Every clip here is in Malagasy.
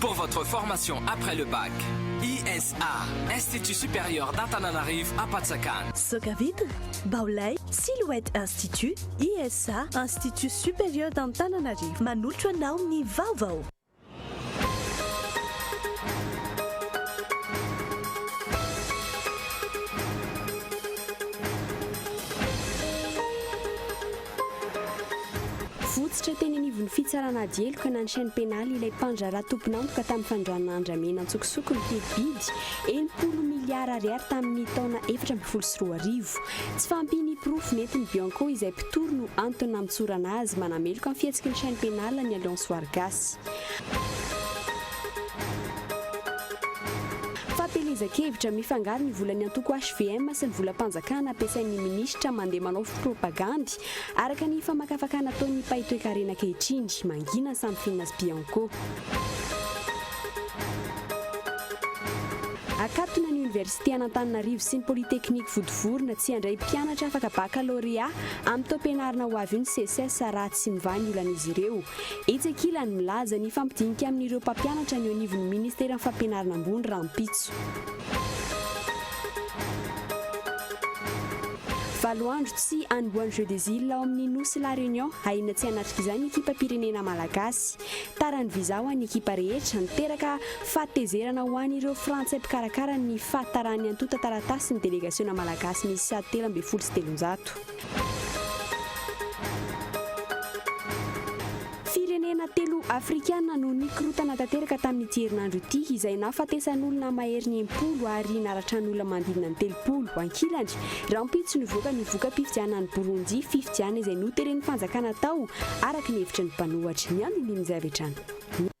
Pour votre formation après le bac, ISA, Institut Supérieur d'Antananarivo Apatsakana. Soca Vitre, Baolay, Silhouette Institut, ISA, Institut Supérieur d'Antananarivo manolotra anao ny vaovao. Votsotra teny anivon'ny fitsarana ady heloka na ny chaine pénale ilay mpandraharaha tompon'antoka tamin'ny fandranana andramena an-tsokosoko ny teti-bidy enimpolo miliara ariary tamin'ny taona efatra ambin'ny folo sy roa arivo. Tsy fahampian'ny porofo nentin'ny Bianco izay mpitory no antony nampitsorana azy manameloka ny fihetsiky ny chaine pénale ny Alliance Wargasy. Fahatelezan-kevitra, Mifangaro ny volan'ny antoko hvm sy ny volam-panjakana ampiasain'ny minisitra mandeha manao propagandy, araka ny famakafakana ataon'ny mpahay toekarena ankehitriny, mangina ny sampinina sy Bianco. Akatona ny oniversite an'Antananarivo sy ny polytechnique vodovorona tsy handray mpianatra afaka bakalôrea amin'ny taom-pianarana ho avy io ny Seces raha tsy mivaha ny olan'izy ireo. Etsy ankilany, milaza ny fampidinika amin'ireo mpampianatra ny eo anivon'ny Ministeran'ny Fampianarana Ambony rahampitso. Valo andro tsy hanombohan'ny Jeux des Îles ao amin'ny Nosy La Réunion, ahiana tsy hanatrik'izany ny ekipam-pirenena malagasy. Tara ny visa ho an'ny ekipa rehetra, miteraka fahatezerana ho an'ireo Frantsay mpikarakara ny fahataran'ny antontan-taratasin'ny delegasiona malagasy miisa telo ambin'ny folo sy telonjato. Firenena telo afrikana no nikorotana tanteraka tamin'ity herinandro ity izay nahafatesan'olona maherin'ny enimpolo ary naratra ny olona manodidina ny telopolo ankilany, rahampitso nivoaka ny voka-pifidianana any Borondy, fifidianana izay noteren'ny fanjakana tao araka ny hevitry ny mpanohatra. Ny andinindin'izay avy hatrany.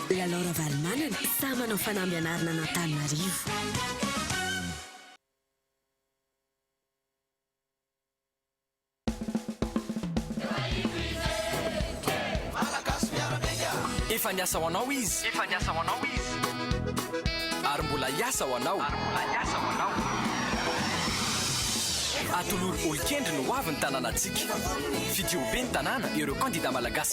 Dia Laure Ravalomanana sahy manao fanamby anarina an'Antananarivo. Efa niasa ho anao izy. Efa niasa ho anao izy. Ary mbola hiasa ho anao. Ary mbola hiasa ho anao. Atolory olon-kendry ny hoavin'ny tanànantsika. Fidio ho ben'ny tanàna ireo kandidà malagasy.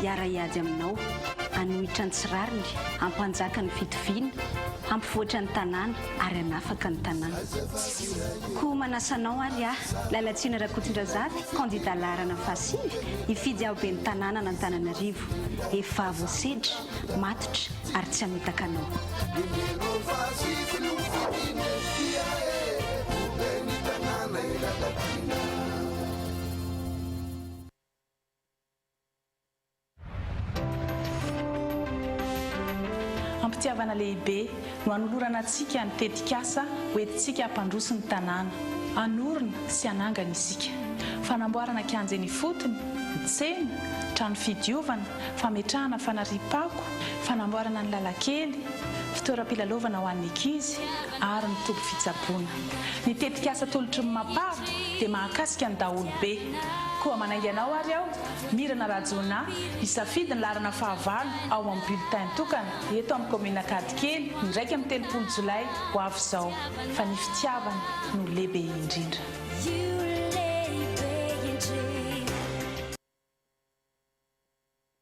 hiara-hiady aminao, hanohitra ny tsy rariny, hampanjaka ny fitoviana, hampivoatra ny tanàna ary hanafaka ny tanàna. Koa manasa anao ary aho, Lalatsina Rakotondrazafy, kandida laharana fahasivy, hifidy aho ben'ny tanànan'Antananarivo. Efa voasedra, matotra ary tsy hamitaka anao. Am-pitiavana lehibe no anolorana antsika ny tetikasa ho entintsika hampandroso ny tanàna. Hanorina sy hanangana isika. Fanamboarana kianja eny ifotony, tsena, trano fidiovana, fametrahana fanariam-pako, fanamboarana ny lalankely, fitoeram-pilalaovana ho an'ny ankizy ary ny toby fitsaboana. Ny tetikasa tolotry ny Mapar dia mahakasika ny daholobe. Koa manainga anao ary aho, Mirana Rajoona, hisafidy ny laharana fahavalo ao amin'ny bulletin tokana eto amin'ny kaominina Ankadikely ny iraika amby telopolo jolay ho avy izao fa ny fitiavana no lehibe indrindra.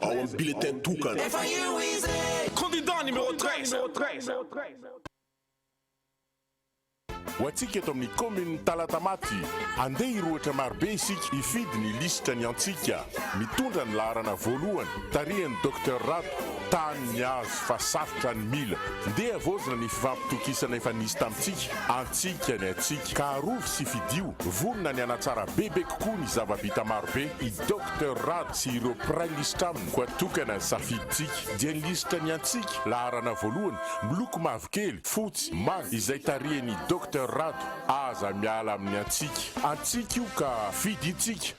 ao amin'ny bulletin tokana. Efa eo izy e! Candidat numéro treize. Ho antsika eto amin'ny kaominin'i Talatamaty, andeha hirohotra marobe isika hifidy ny lisitra ny antsika mitondra ny laharana voalohany tarihan'i Docteur Rado, tany niazo fa sarotra ny mila. Ndeha havaozina ny fifampitokisana efa nisy tamintsika, antsika ny antsika ka arovy sy fidio, vonona ny hanatsara bebe kokoa ny zava-bita marobe i Doc. Docteur Rado sy ireo mpiray lisitra aminy koa tokana ny safidintsika dia ny lisitra ny antsika laharana voalohany miloko mavokely, fotsy, manga izay tarihan'i Docteur Rado aza miala amin'ny antsika. Antsika io ka fidintsika.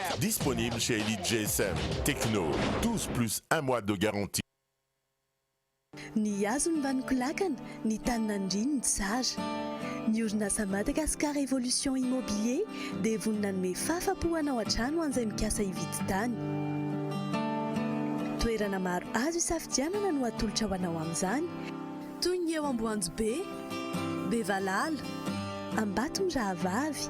Disponible chez Elite GSM, Tecno, 12 plus un mois de garantie. Ny hazony mba nikolakana, ny tany naniriany ny tsara. Ny orinasa Madagascar Evolution Immobilier dia vonona hanome fahafa-po hanao hatrany ho an'izay mikasa hividy tany. Toerana maro azo hisafidianana no atolotra ho anao amin'izany, toy ny eo Amboanjobe, Bevalala, Ambatomirahavavy,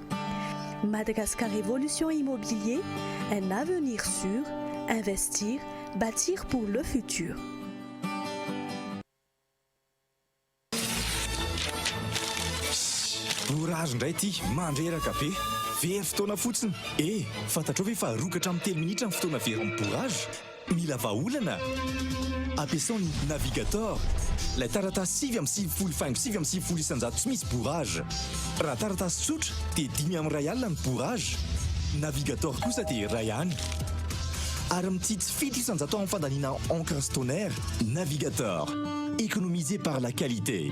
Madagascar Evolution Immobilier, un avenir sur, investir, batir pour le futur. Orage indray ity, mandreraka be. Very fotoana fotsiny. Eh! Fantatrao ve fa rokatra amin'ny telo minitra ny fotoana very amin'ny bourrage? Mila vahaolana? Ampiasao ny Navigator, ilay taratasy sivy amby sivifolo faingo sivy amby sivifolo isan-jato tsy misy bourrage. Raha taratasy tsotra dia dimy amby iray alina ny bourrage. Navigator kosa dia iray any. Ary mitsitsy fito isan-jato amin'ny fandaniana encre sy toner. Navigator, économisez par la qualité.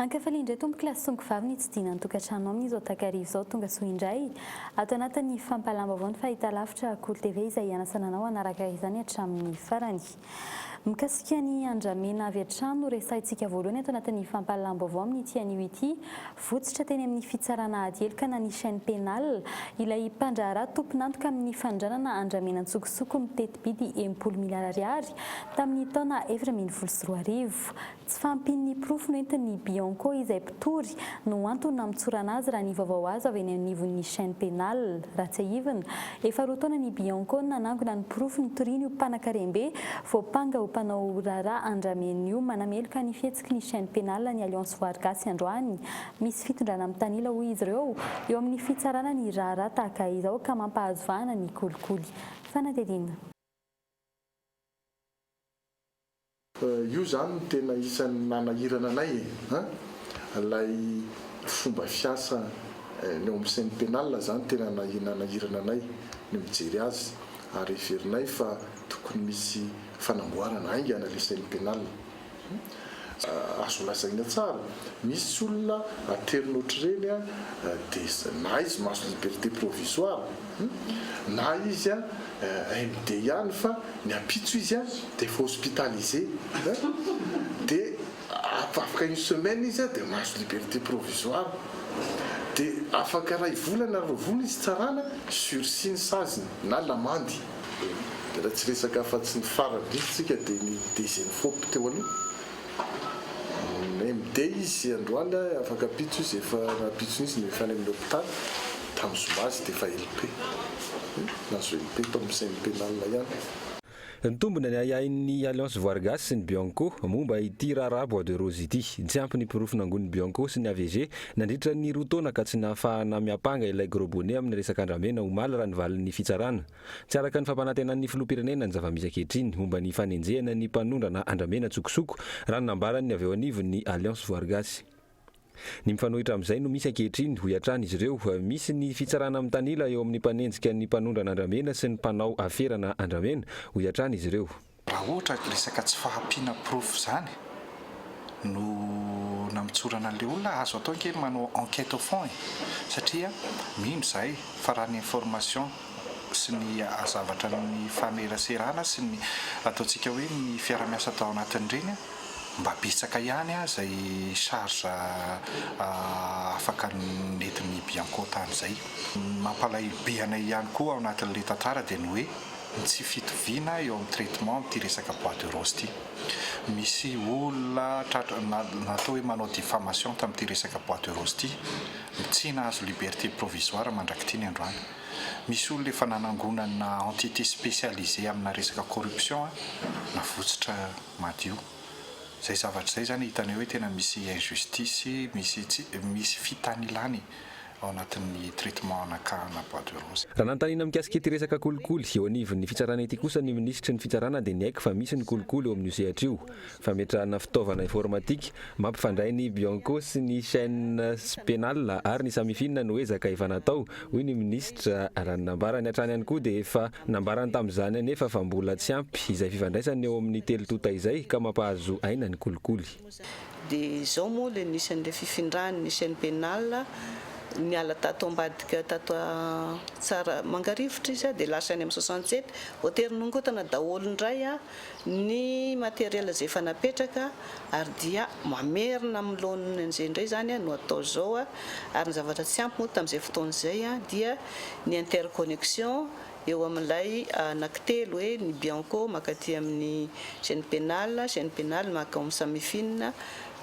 Ankafalia indray tompoko la songo vavy nitsidina ny tokantrano aminy izao takariva izao tonga soa indray ato anatin'ny fampahalam-baovao ny fahitalavitra Kolo TV izay ianasana anao hanaraka izany hatramin'ny farany. Mikasika ny andramena avy hatrany no resahintsika voalohany ato anatin'ny fampahalalam-baovao amin'ity anio ity. Votsitra teny amin'ny fitsarana ady heloka na ny chaine pénale ilay mpandraharaha tompon'antoka amin'ny fanondranana andramena an-tsokosoko miteti-bidy enimpolo miliara ariary tamin'ny taona efatra ambin'ny folo sy roa arivo. Tsy fahampian'ny porofo nentin'ny Bianco izay mpitory no antony nampitsorana azy raha ny vaovao azo avy eny anivon'ny chaine pénale. Raha tsiahivina, efa roa taona ny Bianco no nanangona ny porofo nitoriany ho mpanakarem-be voampanga ho mpanao raharaha andramen'ny io manameloka ny fihetsiky ny chaine pénale ny Alliance Voarogasy androany. Misy fitondrana mitanila hoy izy ireo eo amin'ny fitsarana ny raharaha tahaka izao ka mampahazo vahana ny kolikoly fanadihadiana. Io izany no tena isan'ny nanahirana anay e! An! Ilay fomba fiasa ny ao amin'ny chaine pénale izany tena nanahirana anay ny mijery azy ary heverinay fa tokony misy fanamboarana haingana ilay chaine pénale. Azo lazaina tsara, misy olona aterina ohatr'ireny dia na izy mahazo liberté provisoire, na izy MD ihany fa ny ampitso izy dia efa hospitalisé, dia afaka une semaine izy dia mahazo liberté provisoire, dia afaka iray volana na roa volana izy tsarana, sursis ny saziny na lamandy. Raha tsy resaka afa-tsy ny farany indrindra isika dia ny Dezenfop teo aloha. MD izy androany a, afaka ampitso izy efa nampitso mihitsy ny efa any amin'ny hopitaly. Tamin'ny zoma izy dia efa LP. Nahazo LP tao amin'ny CM Pénal ihany. Nitombina ny ahiahin'ny Alliance Voirgasy sy ny Bianco momba ity raharaha Bois de Rose ity. Tsy ampy ny porofo nangonin'ny Bianco sy ny AVG Nandritra ny roa taona ka tsy nahafahana miampanga ilay Gros Bonnet amin'ny resaka andramena omaly raha ny valin'ny fitsarana. Tsy araka ny fampanantenan'ny filoham-pirenena ny zava-misy ankehitriny momba ny fanenjehana ny mpanondrana andramena an-tsokosoko raha ny nambaran'ny avy eo anivon'ny Alliance Voarygasy. Ny mifanohitra amin'izay no misy ankehitriny, hoy hatrany izy ireo. Misy ny fitsarana mitanila eo amin'ny mpanenjika ny mpanondrana andramena sy ny mpanao aferana andramena, hoy hatrany izy ireo. Raha ohatra ka resaka tsy fahampiana porofo izany no namitsorana an'ilay olona, azo atao ange ny manao enquête au fond e! satria mino izahay fa raha ny information sy ny zavatra nifaneraserana sy ny ataontsika hoe ny fiarahamiasa tao anatin'ireny, mba betsaka ihany izay charge afaka nentin'ny bianco tamin'izay. Ny mampalahelo be anay ihany koa ao anatin'ilay tantara dia ny hoe ny tsy fitoviana eo amin'ny traitement amin'ity resaka bois de rose ity. Misy olona tratra na natao hoe manao diffamation tamin'ity resaka bois de rose ity. Tsy nahazo liberté provisoire mandrak'ity ny androany. Misy olona efa nanangonana entité spécialisée amina resaka corruption navotsotra madio. Izay zavatra izay izany hitanay hoe tena misy injustice, misy tsy, misy fitanilany. ao anatin'ny traitement anakahana bois de rose. Raha nanontaniana mikasika ity resaka kolikoly eo anivon'ny fitsarana ity kosa ny minisitry ny fitsarana dia niaiky fa misy ny kolikoly eo amin'io sehatra io. Fametrahana fitaovana informatika mampifandray ny Bianco sy ny chaines pénales ary ny Samifin no ezaka efa natao, hoy ny minisitra. Raha ny nambarany hatrany ihany koa dia efa nambarany tamin'izany anefa fa mbola tsy ampy izay fifandraisana eo amin'ny telo tonta izay ka mampahazo aina ny kolikoly. Dia izao moa ilay nisy an'ilay fifindran' ny chaine pénale, niala tato ambadika tato Tsara mangarivotra izy a, dia lasa any amin'ny soixante sept, voatery nongotana daholo indray ny matériel izay efa napetraka ary dia mamerina amin'ny laoniny an'izay indray izany no atao izao a, ary ny zavatra tsy ampy moa tamin'izay fotoana izay dia ny interconnexion eo amin'ilay anankitelo hoe ny Bianco mankaty amin'ny Chaine Pénale, Chaine Pénale mankao amin'ny Samifine,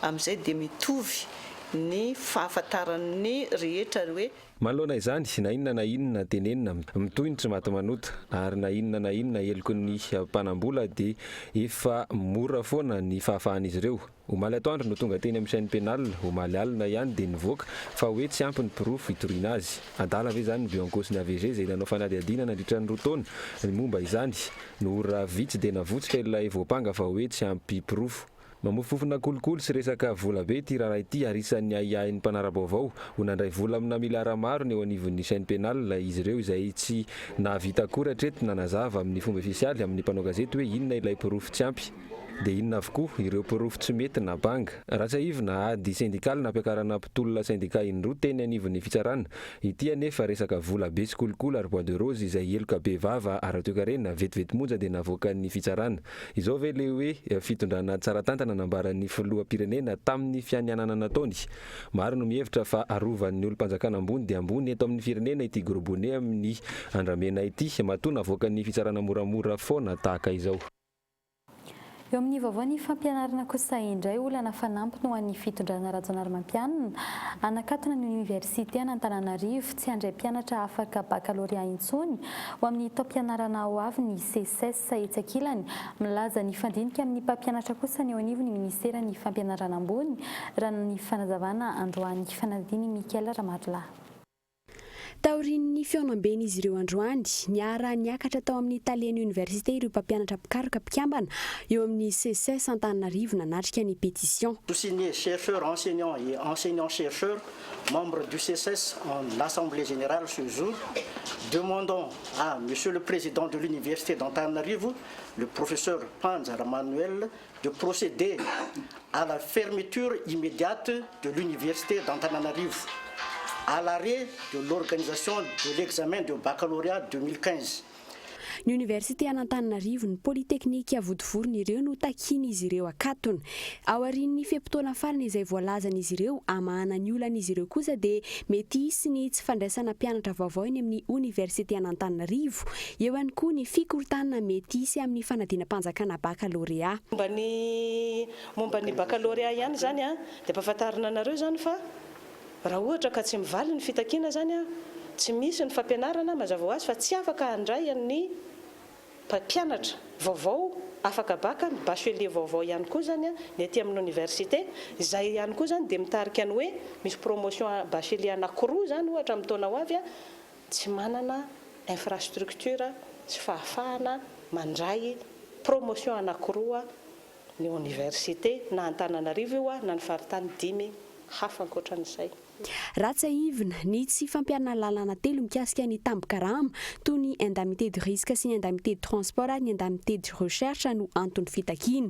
amin'izay dia mitovy ny fahafantaran'ny rehetra hoe. Manoloana izany, na inona na inona tenenina, mitohy ny tsy maty manota, ary na inona na inona heloky ny mpanam-bola dia efa mora foana ny fahafahan'izy ireo, Omaly atoandro no tonga teny amin'ny chaine pénale, omaly alina ihany dia nivoaka fa hoe tsy ampy ny porofo hitoriana azy. Adala ve izany ny bio-ankaosin'ny AVG izay nanao fanadihadiana nandritra ny roa taona ny momba izany no ora vitsy dia navotsotra ilay voampanga fa hoe tsy ampy porofo? Mamofompofona kolikoly sy resaka vola be ity raharaha ity ary isan'ny ahiahin'ny mpanara-baovao ho nandray vola amina miliara maro ny eo anivon'ny chaine pénale izy ireo izay tsy nahavita akory hatreto nanazava amin'ny fomba ofisialy amin'ny mpanao gazety hoe inona ilay porofo tsy ampy Dia inona avokoa ireo porofo tsy mety na banga. Raha tsiahivina, ady sendikaly nampiakarana mpitolona sendika indroa teny anivon'ny fitsarana. Ity anefa resaka vola be sy kolikoly ary bois de rose izay heloka be vava ara-toekarena vetivety monja dia navoakan'ny fitsarana. Izao ve ilay hoe fitondrana tsara tantana nambaran'ny filoham-pirenena tamin'ny fianianana nataony? Maro no mihevitra fa arovan'ny olom-panjakana ambony dia ambony eto amin'ny firenena ity gros bonnet amin'ny andramena ity matoa navoakan'ny fitsarana moramora foana tahaka izao. Eo amin'ny vaovao ny fampianarana kosa indray olana fanampiny ho an'ny fitondrana Rajaonarimampianina, hanakatona ny oniversite an'Antananarivo tsy handray mpianatra afaka bakalorea intsony ho amin'ny taom-pianarana ho avy ny Seces etsy ankilany milaza nifandinika amin'ny mpampianatra kosa ny eo anivon'ny ministeran'ny fampianarana ambony raha ny fanazavana androany fanadin'i Michael Ramarilahy. Taorian'ny fihaonamben'izy ireo androany, niara-niakatra tao amin'ny Talen'ny Oniversite ireo mpampianatra mpikaroka mpikambana eo amin'ny Seces Antananarivo nanatrika ny pétition. Tous signés, chercheurs, enseignants et enseignants-chercheurs, membres du Seces en assemblée générale ce jour, demandons à Monsieur le Président de l'Université d'Antananarivo, le Professeur Panja Ramanuelle, de procéder à la fermeture immédiate de l'université d'Antananarivo à l'arrêt de l'organisation de l'examen de baccalauréat 2015. Ny Oniversite an'Antananarivo, ny Polytechnique vodivoriny ireo no takian'izy ireo akatona. Aorian'ny fe-potoana farany izay voalazan'izy ireo hamahana ny olan'izy ireo kosa dia mety hisy ny tsy fandraisana mpianatra vaovao eny amin'ny Oniversite an'Antananarivo Eo ihany koa ny fikorontanana mety hisy amin'ny fanadinam-panjakana bakalorea. Momba ny momba ny bakalorea ihany izany dia ampahafantarina anareo izany fa raha ohatra ka tsy mivaly ny fitakiana izany, tsy misy ny fampianarana, mazava ho azy fa tsy afaka handray an'ny mpampianatra vaovao afaka baka, ny bachelier vaovao ihany koa izany ny aty amin'ny oniversite. Izay ihany koa izany dia mitarika ny hoe misy promotion bachelier anankiroa izany ohatra amin'ny taona ho avy tsy manana infrastructure sy fahafahana mandray promotion anakiroa ny oniversite, na Antananarivo io na ny faritany dimy hafa ankoatran'izay. Raha tsiahivina, ny tsy fampiharana lalàna telo mikasika ny tambin-karama, toy ny indemnité de risque sy ny indemnité de transport ary ny indemnité de recherche no anton'ny fitakiana.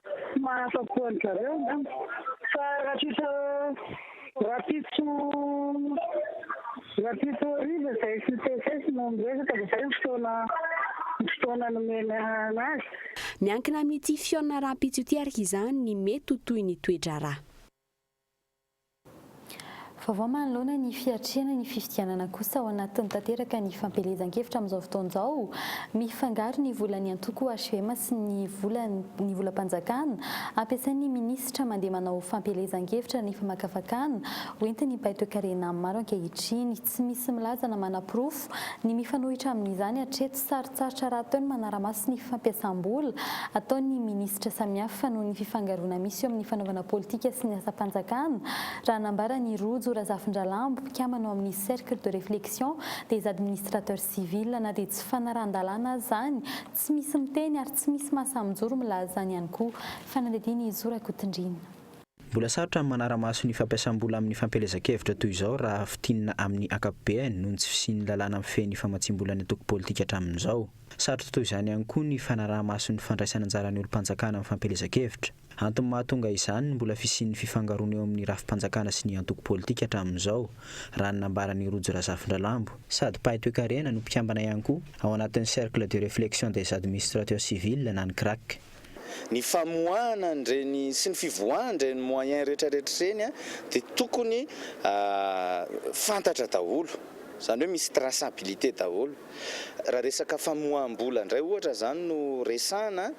Tsy mahafa-po an-dry zareo angamba. Fa ratritra rahampitso rahampitso hariva izay sy TFS no niresaka dia izay ny fotoana ny fotoana nomena anazy. Miankina amin'ity fihaonana rahampitso ity araka izany ny mety ho tohin'ny toe-draharaha. Vaovao manoloana ny fiatrehana ny fifidianana kosa ao anatiny tanteraka ny fampielezan-kevitra amin'izao fotoana izao. Mifangaro ny volan'ny antoko HVM sy ny volan'ny volam-panjakana ampiasain'ny minisitra mandeha manao fampielezan-kevitra nefa makafakana ho entin'ny mpahay toekarena maro ankehitriny. Tsy misy milaza na manaporofo ny mifanohitra amin'izany hatreto. Sarotsarotra rahateo ny manara-maso ny fampiasam-bola ataon'ny minisitra samihafa noho ny fifangaroana misy eo amin'ny fanaovana politika sy ny asam-panjakana, raha nambara an'i Rojo Razafindralambo, mpikambana ao amin'ny Cercle de réflexion des administrateurs civils. Na dia tsy fanarahan-dalàna aza izany, tsy misy miteny ary tsy misy mahasahy mijoro milaza izany ihany koa. Fanadihadiana i Zo Rakotondriana. Mbola sarotra ny manara-maso ny fampiasam-bola amin'ny fampielezan-kevitra toy izao raha fintinina amin'ny ankapobeny noho ny tsy fisian'ny lalàna mifehy ny famatsiam-bola ny antoko politika hatramin'izao. Sarotra toy izany ihany koa ny fanaraha-maso ny fandraisana anjaran'ny olom-panjakana amin'ny fampielezan-kevitra. Antony mahatonga izany ny mbola fisian'ny fifangaroana eo amin'ny rafi-panjakana sy ny antoko politika hatramin'izao, raha ny nambaran'i Rojo Razafindralambo, sady mpahay toekarena no mpikambana ihany koa ao anatin'ny Cercle de réflexion des administrateurs civils na ny CRAC. ny famoahana an'ireny sy ny fivoahana an'ireny moyens retraretra ireny dia tokony fantatra daholo, izany hoe misy traçabilité daholo. Raha resaka famoaham-bola indray ohatra izany no resahana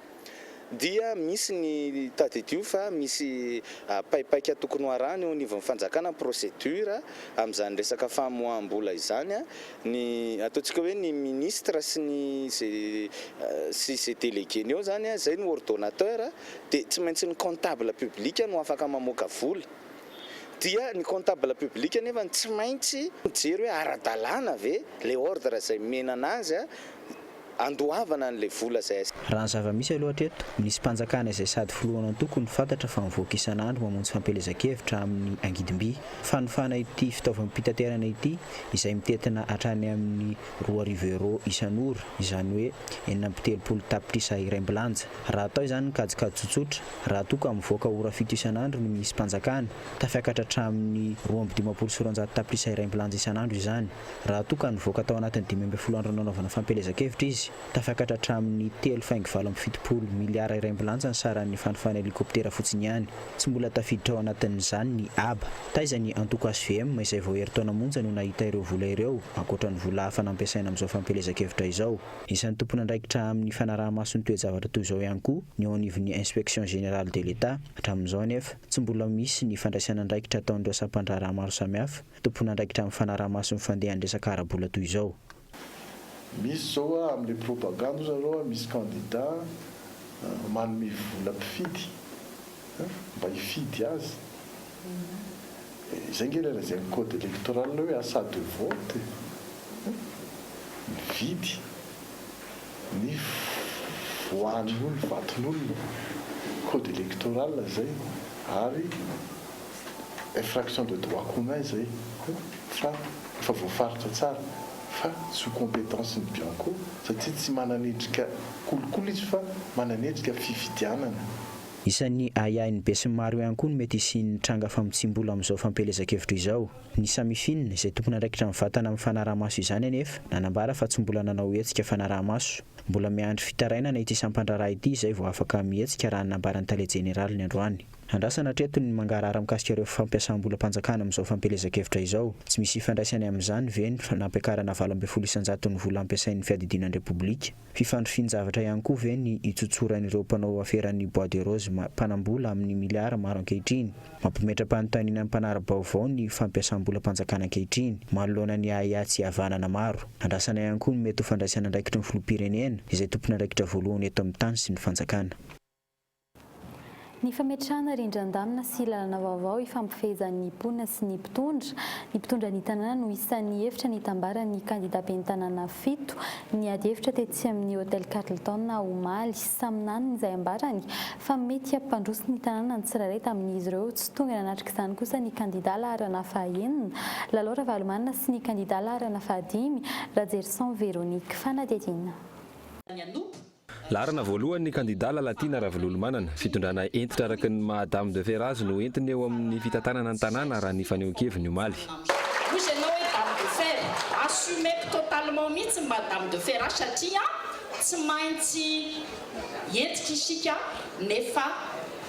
dia misy ny tadidio fa misy paipaika tokony ho arahana eo anivon'ny fanjakana, procédure, amin'izany resaka famoaham-bola izany. Ny ataontsika hoe ny ministre sy ny sy ze delegueny eo zany a, zay no ordonnateur, dia tsy maintsy ny comptable public no afaka mamoaka vola. Dia ny comptable public nefany tsy maintsy mijery hoe ara-dalàna ve le ordre zay menana azy a. Andoavana an'ilay vola izay asiana. Raha ny zava-misy aloha hatreto, misy mpanjakana izay sady filohan'antoko no fantatra fa mivoaka isan'andro mamonjy fampielezan-kevitra amin'ny angidim-by, fanofana ity fitaovam-pitaterana ity izay mitentina hatrany amin'ny roa arivo euros isan'ora, izany hoe enina amby telopolo tapitrisa iray mbilanja. Raha atao izany ny kajikajy tsotsotra, raha toa ka mivoaka ora fito isan'andro ny misy mpanjakana, tafiakatra hatramin'ny roa amby dimampolo sy roanjato tapitrisa iray mbilanja isan'andro izany. raha toa ka nivoaka tao anatin'ny dimy ambin'ny folo andro nanaovana fampielezan-kevitra izy, tafakatra hatramin'ny telo faingo valo amby fitopolo miliara iray ambilanjany saran'ny fanofan'ny helikoptera fotsiny ihany. Tsy mbola tafiditra ao anatin'izany ny haba. Taiza ny antoko hvm izay vao herintaona monja no nahita ireo vola ireo, ankoatra ny vola hafa nampiasaina amin'izao fampielezan-kevitra izao? Isan'ny tompon'andraikitra amin'ny fanaraha-maso ny toe-javatra toy izao ihany koa ny eo anivon'ny Inspection Générale de l'Etat. Hatramin'izao anefa, tsy mbola misy ny fandraisana andraikitra ataon'ireo sampandraharaha maro samihafa, tompon'andraikitra amin'ny fanaraha-maso ny fandehan'ny resaka ara-bola toy izao. Misy zao hoa amle propagande hoy zareo hoa misy candidat manome vola mpifidy mba hifidy azy izay nge ilay lazain'ny code electoral hoe achat de vote mividy ny voan'ny olona vaton'olona code electoral zay ary infraction de droit commun izay fa efa voafaritra tsara fa sous compétence ny bianco satria tsy manan'endrika kolikoly izy fa manan'endrika fifidianana. Isan'ny ahiahin'ny besinimaro ihany koa ny mety hisian'ny tranga famotsiam-bola amin'izao fampielezan-kevitra izao. Ny Samifin, izay tompon'andraikitra mivatana amin'ny fanaraha-maso izany anefa, nanambara fa tsy mbola nanao hetsika fanaraha-maso. Mbola miandry fitarainana ity sampan-draharaha ity izay vao afaka mihetsika raha ny nambaran'ny tale jeneraly ny androany. Andrasana hatreto ny mangarahara mikasika ireo fampiasam-bolam-panjakana amin'izao fampielezan-kevitra izao. Tsy misy ifandraisany amin'izany ve ny fanampiakarana valo ambin'ny folo isan-jaton'ny vola ampiasain'ny Fiadidiana ny Repoblika? Fifandrifian-javatra ihany koa ve ny itsotsoran'ireo mpanao aferan'ny Bois de Rose mpanam-bola amin'ny miliara maro ankehitriny? Mampimetram-panontaniana ny mpanara-baovao ny fampiasam-bolam-panjakana ankehitriny, manoloana ny ahiahy tsy havanana maro. Andrasana ihany koa ny mety ho fandraisan'andraikitry ny Filoham-pirenena, izay tompon'andraikitra voalohany eto amin'ny tany sy ny fanjakana. Ny fametrahana rindran-damina sy lalana vaovao hifampifehezan'ny mponina sy ny mpitondra. Ny mpitondra ny tanàna no isan'ny hevitra nitambaran'ny kandida ben'ny tanàna fito ny ady hevitra tetsy amin'ny Hotel Carlton omaly. Samy nanana izay ambarany fa mety hampandroso ny tanàna ny tsirairay tamin'izy ireo. Tsy tonga nanatrika izany kosa ny kandida laharana fahaenina, Lalao Ravalomanana sy ny kandida laharana fahadimy, Rajerison Véronique. Fanadihadiana. ny hanompo Laharana voalohany ny kandidà Lalatiana Ravololomanana. Fitondrana hentitra araka ny maha Dame de fer azy no entiny eo amin'ny fitantanana ny tanàna raha ny fanehoan-keviny omaly. Hoy izy ianao hoe Dame de fer, assumeko totalement mihitsy ny maha Dame de fer ahy satria tsy maintsy hentitra isika nefa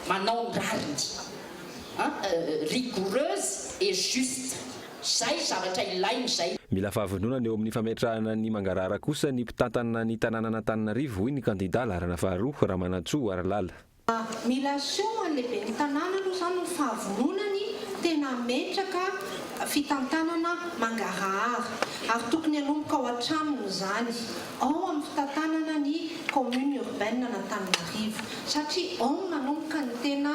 manao ny rariny. Rigoureuse et juste. Zay zavatra ilainy zay. Mila fahavononana eo amin'ny fametrahana ny mangarahara kosa ny mpitantana ny tanànan'Antananarivo, hoy ny kandidà laharana faharoa, Ramanantsoa Harilala. Mila asio ho an'ny lehiben'ny tanàna aloha izany ny fahavononany tena hametraka fitantanana mangarahara ary tokony hanomboka ao an-tranony izany, ao amin'ny fitantanana ny commune urbaine an'Antananarivo satria ao no nanomboka ny tena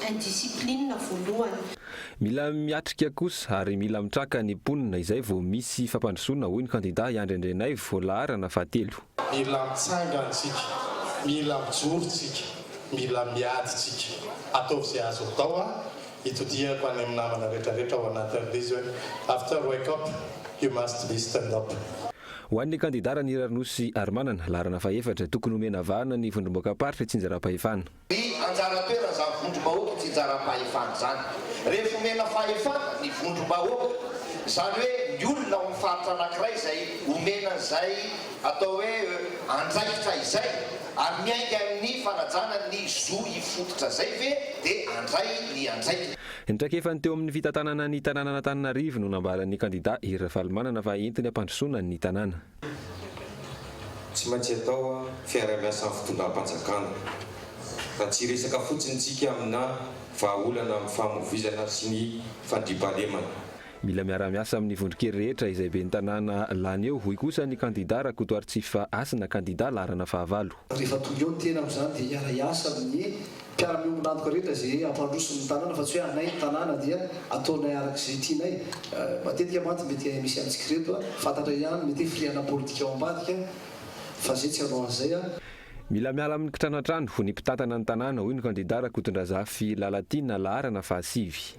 indiscipline voalohany. Mila miatrika kosa ary mila mitraka ny mponina izay vao misy fampandrosoana, hoy ny kandida i Andry Andrianaivo, laharana fahatelo. Mila mitsangana tsika, mila mijoro tsika, mila miady tsika. Ataovy izay azo atao an! Itodihako any amin'ny namana rehetra rehetra ao anatin'ny release hoe After wake up, you must be stand up. Ho an'ny kandida Ranirarin'osy Harimanana, laharana fahaefatra, tokony homena vahana ny vondrom-boakam-paritra Itsinjaram-pahefana. Ny anjara toeran'izany vondrom-bahoaka tsy hijaram-pahefana izany. Rehefa omena fahefana ny vondrom-bahoaka, izany hoe ny olona ao amin'ny faritra anankiray izay omena an'izay atao hoe andraikitra izay ary miainga amin'ny fanajana ny zo hifototra izay ve dia handray ny andraikiny. Ny traikefany teo amin'ny fitantanana ny tanànan'Antananarivo no nambaran'ny kandida Hery Ravalomanana fa entiny hampandrosoana ny tanàna. Tsy maintsy atao fiarahamiasa amin'ny fitondram-panjakana fa tsy hiresaka fotsiny isika aminà vahaolana amin'ny famovoizana sy ny fandriampahalemana. Mila miara-miasa amin'ny vondron-kery rehetra izay ben'ny tanàna lany eo, hoy kosa ny kandidà Rakotoaritsifa Hasina, kandidà laharana fahavalo. Rehefa tonga eo ny tena amin'izany dia hiara-hiasa amin'ny mpiara-miombon'antoka rehetra izay hampandroso ny tanàna fa tsy hoe anay ny tanàna dia ataonay araka izay tianay. Matetika mantsy mety misy antsika ireto fantatra ihany mety hoe firiana politika ao ambadika fa izay tsy hanao an'izay. Mila miala amin'ny kitranantrano ny mpitantana ny tanàna, hoy ny kandida Rakotondrazafy Lalatiana, laharana fahasivy.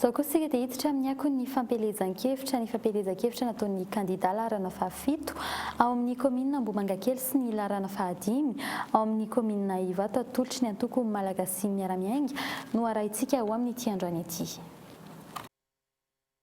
Izao kosa isika dia hiditra amin'ny akon'ny fampielezan-kevitra, ny fampielezan-kevitra nataon'ny kandidà laharana fahafito ao amin'ny kaominina Ambohimangakely sy ny laharana fahadimy ao amin'ny kaominina Ivato atolotry ny antoko Malagasy miara-miainga no arahintsika ho amin'ity androany ity.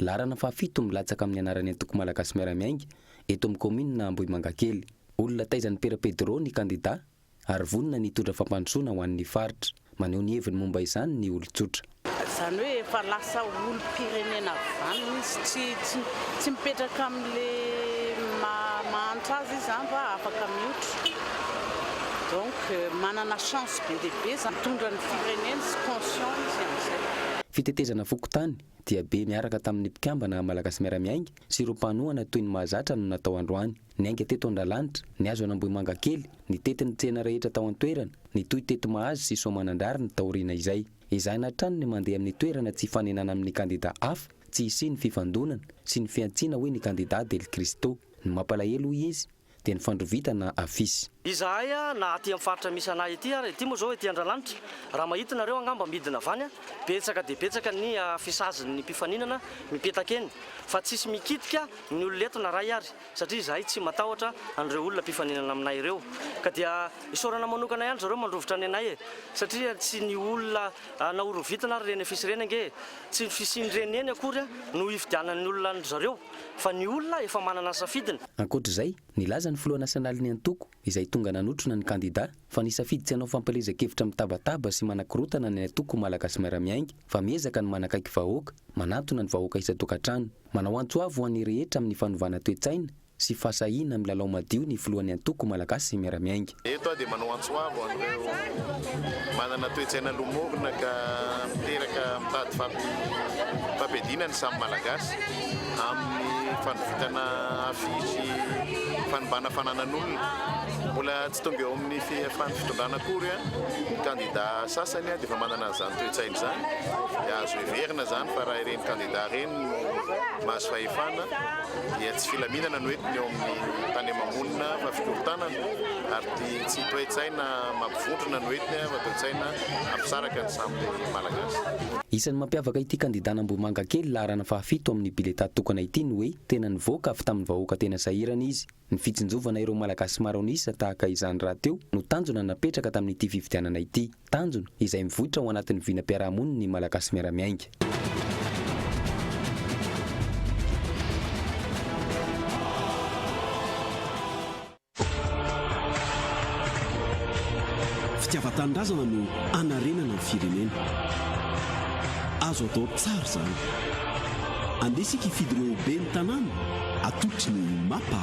Laharana fahafito milatsaka amin'ny anaran'ny antoko Malagasy Miara-miainga eto amin'ny kaominina Ambohimangakely. Olona taizan'i Pera Pedro ny kandidà ary vonona ny hitondra fampandrosoana ho an'ny faritra. Maneho ny heviny momba izany ny olon-tsotra. Izany hoe efa lasa olom-pirenena avy izany izy, tsy tsy mipetraka amin'ilay maha mahantra azy izy izany fa afaka mihotra. Donc manana chance be dia be izany, mitondra ny firenena izy, conscient izy amin'izay. Fitetezana fokontany, dia be niaraka tamin'ny mpikambana Malagasy Miara-Miainga sy ireo mpanohana toy ny mahazatra no natao androany. Niainga teto Andralanitra, ny hazo an'Ambohimangakely, nitety ny tsena rehetra tao an-toerana, nitohy teto Mahazo sy Soamanandrariny taoriana izay. Ezahina hatrany ny mandeha amin'ny toerana tsy hifanenana amin'ny kandida hafa, tsy hisian'ny fifandonana sy ny fihantsiana hoy ny kandida Del Cristo. Ny mampalahelo hoy izy, dia ny fandrovitana afisy. Izahay na aty am faritra misy anay ity ary ity moa zao ety Andralanitra raha mahita nareo angamba midina avy any betsaka dia betsaka ny afisazin ny mpifaninana mipetaka eny fa tsisy mikitika ny olona eto na ray ary satria izahay tsy matahotra an'ireo olona mpifaninana aminay ireo ka dia isaorana manokana ihany zareo mandrovitra ny anay e satria tsy ny olona Na horovitina ary ireny afisy ireny ange tsy ny fisian'ireny eny akory no hifidianan'ny olona an-dry zareo fa ny olona efa manana ny safidiny. Ankoatr'izay, nilaza ny filoha nasionalin'ny antoko izay tonga nanotrona ny kandida fa nisafidy tsy hanao fampielezan-kevitra mitabataba sy manakorontana ny antoko ho Malagasy miara-miainga fa miezaka ny manakaiky vahoaka, manantona ny vahoaka isan-tokantrano, manao antso avo ho an'ny rehetra amin'ny fanovana toe-tsaina, sy fahasahiana milalao madio ny filohan'ny antoko malagasy miara-miainga. Eto aho dia manao antso avo ho an'ireo manana toe-tsaina lomorina ka miteraka mitady fampihadiana ny samy Malagasy amin'ny fandrovitana afisy fanimbàna fananan'olona. Mbola tsy tonga eo amin'ny fihafan'ny fitondrana akory ny kandidà sasany dia efa manana an'izany toe-tsaina izany. Dia azo heverina izany fa raha ireny kandidà ireny no mahazo fahefana, dia tsy filaminana no entiny eo amin'ny tany ama-monina fa fikorontanana ary ty tsy toe-tsaina mampivondrona no entiny fa toe-tsaina hampisaraka ny samy Malagasy. Isan'ny mampiavaka ity kandidana Ambohimangakely laharana fahafito amin'ny biletà tokana ity ny hoe tena nivoaka avy tamin'ny vahoaka tena sahirana izy. Ny fitsinjovana ireo Malagasy maro an'isa tahaka izany rahateo no tanjona napetraka tamin'ity fifidianana ity. Tanjona, izay mivoitra ao anatin'ny vinam-piarahamonin' ny Malagasy miara-miainga. Fitiavan-tanindrazana no hanarenana ny firenena. Azo atao tsara izany. Andeha isika hifidy ireo ho ben'ny tanàna, atolotry ny Mapa.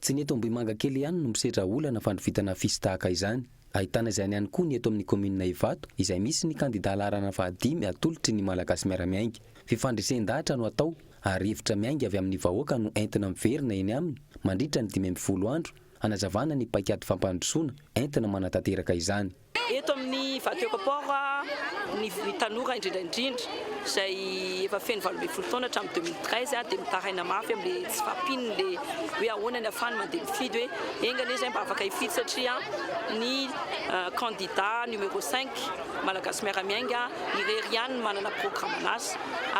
Tsy ny eto Ambohimangakely ihany no misedra olana fandrovitana afisy tahaka izany. Ahitana izany ihany koa ny eto amin'ny kaominina Ivato izay misy ny kandidà laharana fahadimy atolotry ny Malagasy Miara-miainga. Fifandresen-dahatra no atao ary hevitra miainga avy amin'ny vahoaka no entina miverina eny aminy mandritra ny dimy ambin'ny folo andro hanazavana ny paikady fampandrosoana entina manatanteraka izany. Eto amin'ny Ivato Eco-Port ny tanora indrindra indrindra. izay efa feno valo ambin'ny folo taona hatramin'ny deux mille treize aho dia mitaraina mafy amin'ilay tsy fahampian'ny le hoe ahoana ny afahany mandeha mifidy hoe enga anie izay mba afaka hifidy satria ny kandida numéro cinq Malagasy miara-miainga irery ihany no manana programan'asa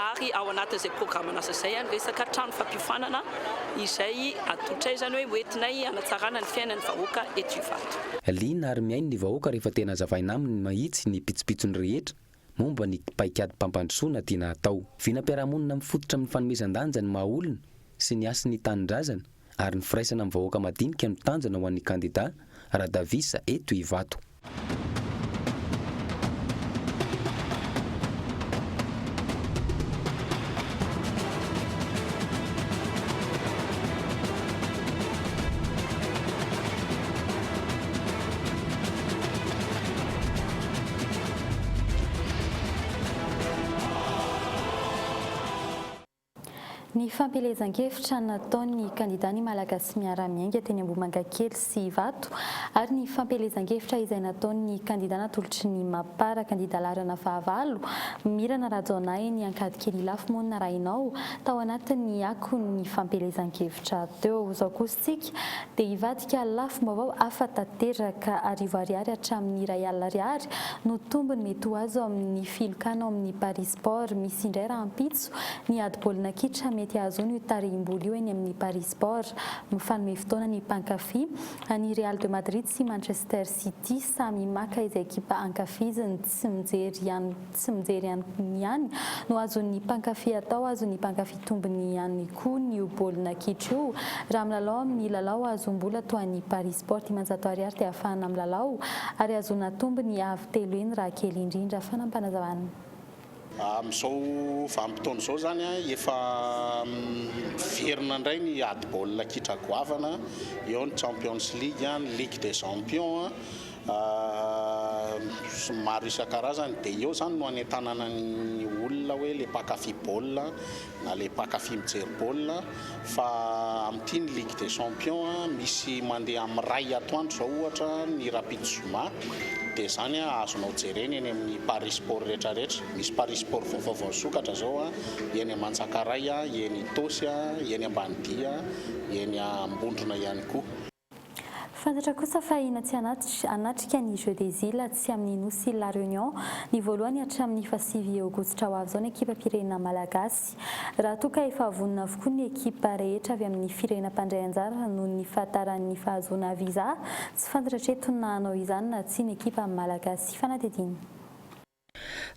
ary ao anatin'izay programan'asa izay ny resaka trano fampiofanana izay atolotray izany hoe hoentinay hanatsarana ny fiainan'ny vahoaka eto Ivato. Liana ary mihaino ny vahoaka rehefa tena azavaina aminy mahitsy ny pitsopitsony rehetra momba ny paikadim-pampandrosoana tiana hatao. Vinam-piarahamonina mifototra amin'ny fanomezan-danja ny maha olona sy ny hasin' ny tanindrazana ary ny firaisana amin'ny vahoaka madinika no tanjona ho an'ny kandidà Radavisa eto Ivato. Ny fampielezan-kevitra nataon'ny kandidà Ny Malagasy Miara-Miainga teny Ambohimangakely sy Ivato ary ny fampielezan-kevitra izay nataon'ny kandidà natolotry ny Mapar kandidà laharana fahavalo Mirana Rajaonahiny Ankadikely Ilafy moa no narahinao tao anatin'ny akon'ny fampielezan-kevitra teo. Tsika, dia hivadika lafim-baovao hafa tanteraka. Arivo Ariary hatramin'ny iray alina Ariary no tombony mety ho azo amin'ny filokana ao amin'ny Paris Sport. Misy indray rahampitso ny ady baolina kitra mety hahazoana io tarihim-bola io eny amin'ny Paris Sport. Mifanome fotoana ny mpankafy. Ny Real de Madrid sy Manchester City samy maka izay ekipa ankafiziny. tsy mijery ihany tsy mijery ihany ihany no azon'ny mpankafy atao, azon'ny mpankafy tombony ihany koa ny io baolina kitra io. Raha milalao amin'ny lalao azohom-bola toa an'i Paris Sport dimanjato ariary dia afahana milalao ary ahazoana tombony avo telo heny raha kely indrindra, fanampanazavan'ny. Amin'izao vanim-potoana izao izany efa miverina indray ny ady baolina kitra goavana, eo ny Champions League, ny Ligue des Champions maro isan-karazany dia eo izany no anentanana ny olona hoe ilay mpankafy baolina na ilay mpankafy mijery baolina fa amin'ity ny ligue des champions misy mandeha amin'ny iray atoandro izao ohatra ny rahampitso zoma dia izany azonao jerena eny amin'ny paris sport rehetra rehetra misy paris sport vao vaovao nisokatra izao eny Mantsakaray eny Itaosy eny Ambanidia eny Ambondrona ihany koa Fantatra kosa fa hina tsy hanatitra hanatrika ny Jeux des Iles atsy amin'ny nosy La Réunion ny voalohany hatramin'ny fahasivy aogositra ho avy izao ny ekipam-pirenena malagasy raha toa ka efa vonona avokoa ny ekipa rehetra avy amin'ny firenena mpandray anjara noho ny fahataran'ny fahazoana visa tsy fantatra hatreto na hanao izany na tsia ny ekipa malagasy fanadihadiana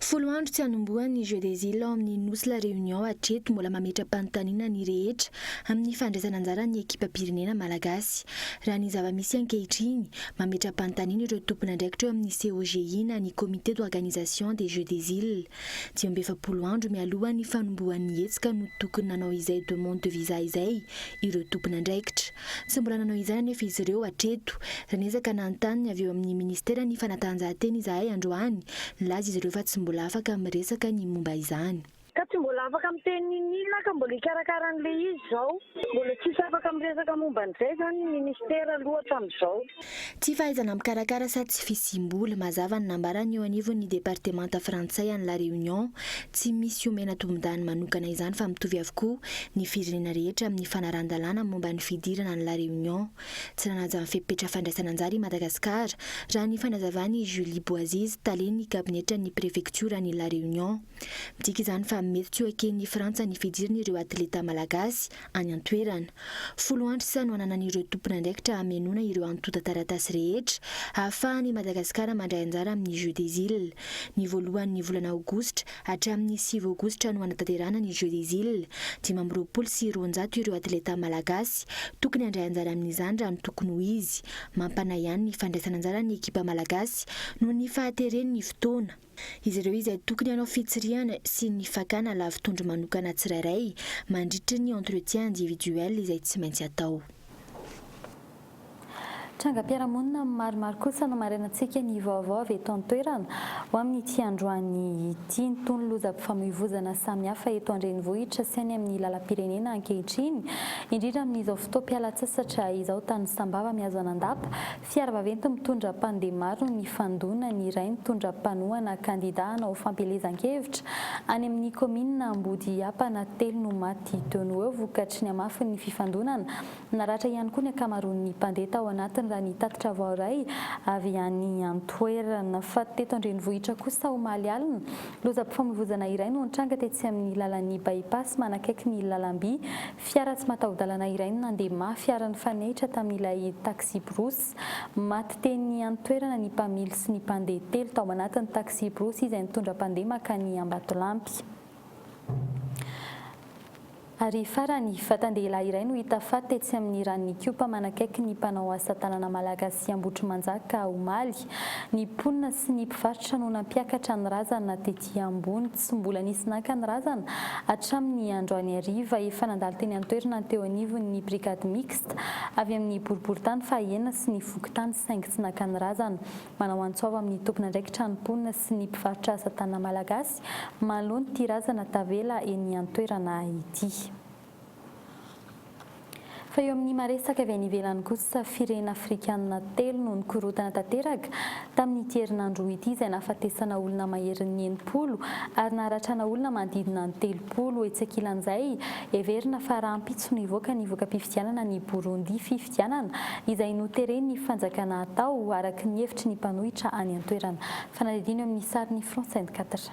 Folo andro tsy hanombohan' ny Jeux des Iles ao amin' ny nosy La Réunion hatreto mbola mametra-panontaniana ny rehetra amin' ny fandraisana anjaran' ny ekipam-pirenena malagasy. Raha ny zava-misy ankehitriny, mametra-panontaniana ireo tompon' andraikitra eo amin' ny COJI na ny Comité d'organisation des Jeux des Iles. Dimy amby efapolo andro mialohan' ny fanombohan' ny hetsika no tokony nanao izay demande de visa izay ireo tompon' andraikitra. Tsy mbola nanao izany anefa izy ireo hatreto. Raha niezaka nanontany ny avy eo amin'ny Ministeran'ny Fanatanjahantena izahay androany, nilaza izy ireo fa tsy mbola afaka miresaka ny momba izany. Ka tsy mbola afaka miteny n'inon'inona ka mbola hikarakara an'ilay izy izao. Mbola tsisy afaka miresaka momba an'izay izany ny Ministera aloha hatramin'izao. Tsy fahaizana mikarakara sady tsy fisiam-bola, mazava ny nambaran'ny eo anivon'ny departemanta frantsay any La Réunion. Tsy misy omena tombondany manokana izany fa mitovy avokoa ny firenena rehetra amin'ny fanarahan-dalàna momba ny fidirana any La Réunion. Tsy nanaja ny fepetra fandraisana anjara i Madagasikara, raha ny fanazavan'i Julie Boaziz, talen'ny kabinetran'ny prefektioran'i La Réunion. Midika izany fa mety tsy ho eken'i Frantsa ny fidiran'ireo atleta malagasy any an-toerana. Folo andro sisa no ananan'ireo tompon'andraikitra hamenoana ireo antontan-taratasy rehetra hahafahan'i Madagasikara mandray anjara amin'ny Jeux des Îles. Ny voalohan'ny volana aogositra hatramin'ny sivy aogositra no hanatanterahana ny Jeux des Îles. Dimy amby roapolo sy roanjato ireo atleta malagasy tokony handray anjara amin'izany raha ny tokony ho izy. Mampanahy ihany ny fandraisan'anjaran'ny ekipa malagasy noho ny fahateren'ny fotoana. Izy ireo izay tokony hanao fitsirihana sy ny fakana lavitondro manokana tsirairay mandritra ny entretien individuel izay tsy maintsy atao. Trangam-piarahamonina maromaro kosa nomarenantsika ny vaovao avy eto an-toerana ho amin'ity androany ity. Nitony lozam-pifamoivoizana samihafa eto an-drenivohitra sy any amin'ny lalam-pirenena ankehitriny, indrindra amin'izao fotoam-pialantsasatra izao tany Sambava mihazo an'Andapa, Fiara vaventy mitondra mpandeha maro nifandona ny iray nitondra mpanohana kandida hanao fampielezan-kevitra any amin'ny kaominina Ambodihiampana telo no maty teo no eo vokatry ny hamafin'ny fifandonana. Naratra ihany koa ny ankamaroan'ny mpandeha tao anatiny raha ny tatitra voaray avy any an-toerana. Faty teto an-drenivohitra kosa omaly alina, lozam-pifamoivoizana iray no nitranga tetsy amin'ny lalan'ny By-pass manakaiky ny lalam-by Fiara tsy mataho-dalana iray no nandeha mafy ary nifanehitra tamin'ilay taxi-brousse. Maty teny an-toerana ny mpamily sy ny mpandeha telo tao anatin'ny taxi-brousse izay nitondra mpandeha mankany Ambatolampy. Ary farany, vatan-dehilahy iray no hita faty tetsy amin'ny ranon'Ikopa manakaiky ny mpanao asa tanana malagasy Ambohitrimanjaka, omaly. Ny mponina sy ny mpivarotra no nampiakatra ny razana tety ambony. Tsy mbola nisy naka ny razana. Hatramin'ny androany hariva, efa nandalo teny an-toerana ny teo anivon'ny Brigade Mixte avy amin'ny boriborintany fahaenina sy ny fokontany saingy tsy naka ny razana. Manao antsoava amin'ny tompon'andraikitra ny mponina sy ny mpivarotra asa tanana malagasy manoloan'ity razana tavela eny an-toerana ity. Fa eo amin'ny maha-resaka avy any ivelany kosa, firena afrikanina telo no nikorotana tanteraka tamin'ity herinandro roa ity izay nahafatesana olona maherin'ny enimpolo ary naharatrana olona manodidina ny telopolo. Etsy ankilan'izay, heverina fa rahampitso no hivoaka ny voka-pifidianana any Burundi, fifidianana izay noteren'ny fanjakana hatao, araka ny hevitry ny mpanohitra any an-toerana. Fanadihadiana eo amin'ny sarin'i France vingt-quatre.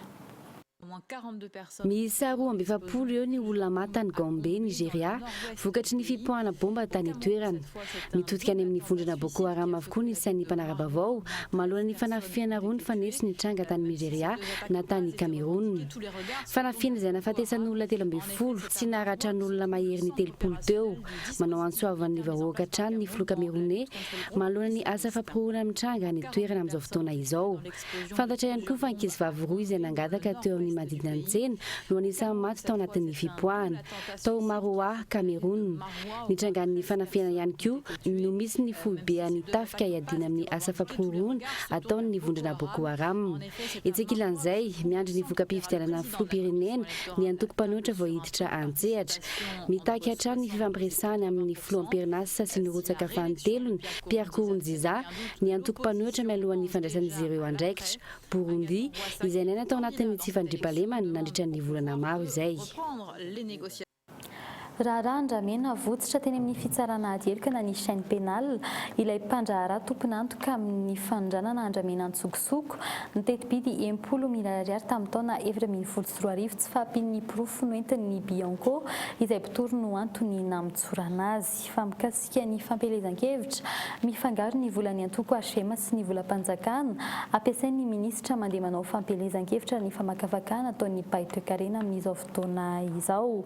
Miisa roa amby efapolo eo ny olona maty tany Gombe, Nigeria, vokatry ny fipoahana bomba tany an-toerana. Mitodika any amin'ny vondrona Boko Haram avokoa ny isan'ny mpanara-baovao, manoloana ny fanafihana roa nifanetsy nitranga tany Nigeria na tany Kamerona. Fanafihana izay nahafatesan'olona telo ambin'ny folo sy naharaha tran'olona maherin'ny telopolo teo. Manao antso avo an'ny vahoaka hatrany ny filoha Kameroney manoloana ny asa fampihorohoroana mitranga any an-toerana amin'izao fotoana izao. Fantatra ihany koa fa ankizivavy roa izay nangataka teo amin'ny manodidina ny tsena no anisan'ny maty tao anatin'ny fipoahana, tao Maroua, Cameroun. Ny trangan'ny fanafihana ihany koa no misy ny foibean'ny tafika hiadiana amin'ny asa fampihorohoroana ataon'ny vondrona Boko Haram. Etsy ankilan'izay, miandry ny voka-pifidianana filoham-pirenena ny antoko mpanohitra vao hiditra an-tsehatra. Mitaky hatrany ny fifampiresahana amin'ny filoha amperinasa sy nirotsaka fanintelony, Pierre Nkurunziza, ny antoko mpanohitra mialohan'ny fandraisan'izy ireo andraikitra, Burundi, izay niaina tao anatin'ny tsy fandriampahalemana nandritra ny volana maro izay. Raharaha andramena votsotra teny amin'ny fitsarana ady heloka na ny chaine pénale ilay mpandraharaha tompon'antoka amin'ny fanondranana andramena an-tsokosoko ny teti-bidy em-polo mirary ariary tamin'ny taona efatra ambin'ny folo sy roa arivo tsy fahampian'ny porofo noentin'ny Bianco izay mpitory no antony namontsorana azy. mikasika ny fampielezan-kevitra mifangaro ny volan'ny antoko HM sy ny volam-panjakana ampiasain'ny minisitra mandeha manao fampielezan-kevitra ny famakafakana ataon'ny mpahay toekarena amin'izao fotoana izao.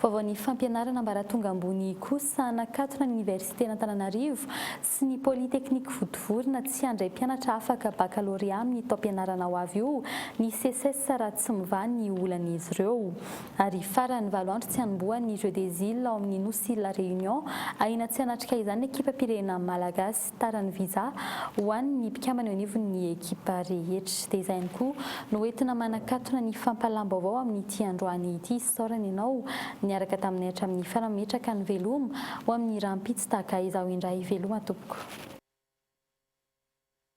Vaovao ny fampianarana ambaratonga ambony kosa nakatona ny oniversiten'Antananarivo sy ny polytechnique votovorina tsy handray mpianatra afaka bakalôrea amin'ny taom-pianarana ho avy io ny Seces raha tsy mivaha ny olan'izy ireo. ary farany valo andro tsy hanomboha ny Jeux des Iles ao amin'ny nosy La Réunion, ahiana tsy hanatrika izany ny ekipam-pirenena malagasy. Tara ny visa ho an'ny mpikambana eo anivon'ny ekipa rehetra. Dia izay ihany koa no entina manakatona ny fampahalam-baovao amin'ity androany ity isaorana ianao niaraka taminay hatramin'ny farany Metraka ny veloma ho amin'ny rahampitso tahaka izao indray Veloma tompoko.